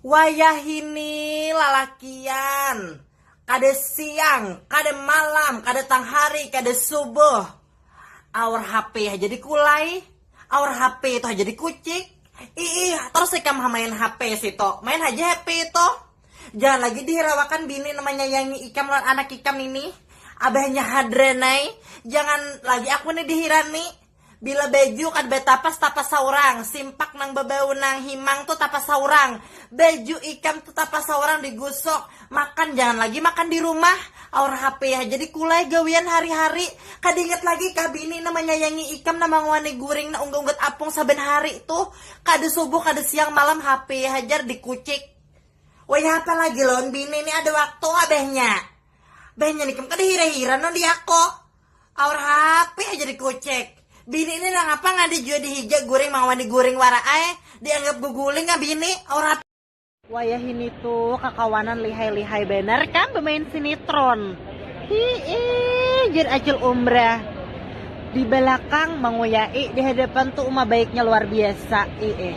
Wayahini lalakian kada siang, kada malam, kada tang hari, kada subuh aur hp haja di kulai, aur hp itu haja di kucik, iih tarus ikam ha main hp situ, main haja hp itu. Jangan lagi dihirawakan bini nang manyayangi ikam lawan anak ikam ini. Abahnya hadran ai. Jangan lagi aku ni dihirani. Bila baju kada batapas, tapas saurang. Simpak nang babau nang himang tu tapas saurang. Baju ikam tu tapas saurang digusuk. Makan jangan lagi makan di rumah. Aur hape haja dikulai gawian hari-hari. Kada ingat lagi kah bini nang manyayangi ikam nang mangawani guring nang unggat-unggat apung saban hari tu. Kada subuh kada siang malam hape hajar dikucik. Wayah apa lagi lawan bini ni ada waktu ah behnya. Behnya ni kam kada hira-hira non diako. Aur HP aja dikucek. Bini ni nangapa ngada jua dihija guring mawani guring wara ae. Dianggap guguling ah bini, aur HP. Wayah ini tu kakawanan lihai-lihai banar kam bamain sinitron. Hiih, jar Acil Umbrah. Di balakang manguyai, di hadapan tu uma baiknya luar biasa. Iih.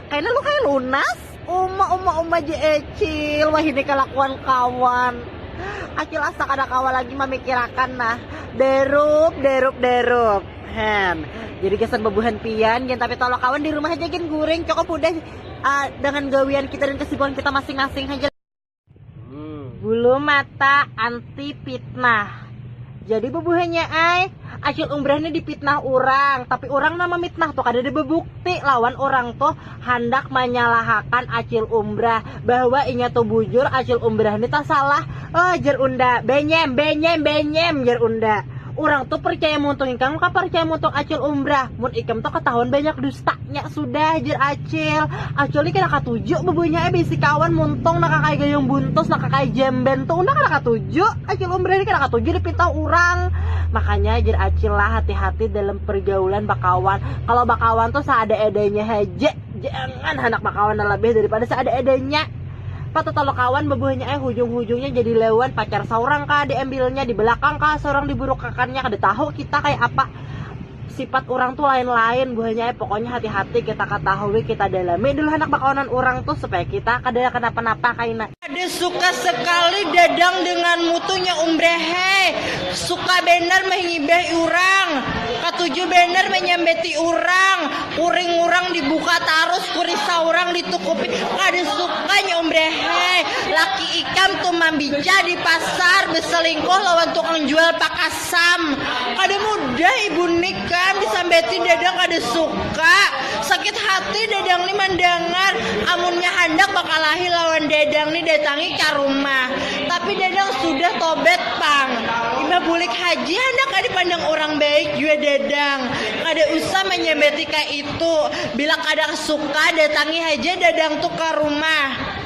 Kaina lu kaya lunas. Uma uma uma je ecil wahini kalakuan kawan. Acil asa kada kawa lagi mamikirakan nah. Derup derup derup. Hen. Jadi gasan babuhan pian gin tapi tolong kawan di rumah haja gin guring cukup hudah uh, dengan gawian kita dan kesibukan kita masing-masing haja. Bulu mata anti fitnah. Jadi bubuhannya ai, acil umbrah ini dipitnah orang, tapi orang nama mitnah tuh kada ada bebukti lawan orang tuh handak menyalahakan acil umbrah bahwa inya tuh bujur acil umbrah ini tuh salah. Oh jer unda, benyem, benyem, benyem jer unda. Orang tuh percaya muntung ikam, percaya muntung acil umbrah. Mun ikam tuh ketahuan banyak dusta. Nya sudah jer acil. Acil ni kena katuju bebunya eh bisi kawan muntung nak kakai gayung buntus nak kakai jemben tuh udah kena katuju. Acil umrah ni kena katuju dipitau orang. Makanya jer acil lah hati-hati dalam pergaulan bakawan. Kalau bakawan tuh seada edanya haja. Jangan handak bakawan lebih daripada seada edanya. Patu talo kawan bebuhanya eh hujung-hujungnya jadi lewan pacar seorang kah diambilnya di belakang kah seorang diburukakannya kada tahu kita kayak apa. Sipat orang tuh lain-lain buahnya eh pokoknya hati-hati kita ketahui kita dalami dulu anak bakawanan orang tuh supaya kita kada kenapa-napa kaina. Kada suka sekali dadang dengan mutu nya umbre hei, suka banar mehngibeh urang, katuju banar menyambeti urang, kuring urang dibuka tarus, kurisa urang ditukupi, kada suka nya umbre hei, laki ikam tuh mambica di pasar beselingkuh lawan tukang jual pakasar. Sam, kada mudah ibu nik kan disambeti dadang kada suka. Sakit hati dadang ni mandangar. Amunnya handak bakalahi lawan dadang ni datangi ka rumah. Tapi dadang sudah tobat pang. Imbah bulik haji handak ka dipandang urang baik jua dadang. Kada usah manyambeti ka itu. Bila kada suka datangi haja dadang tu ka rumah.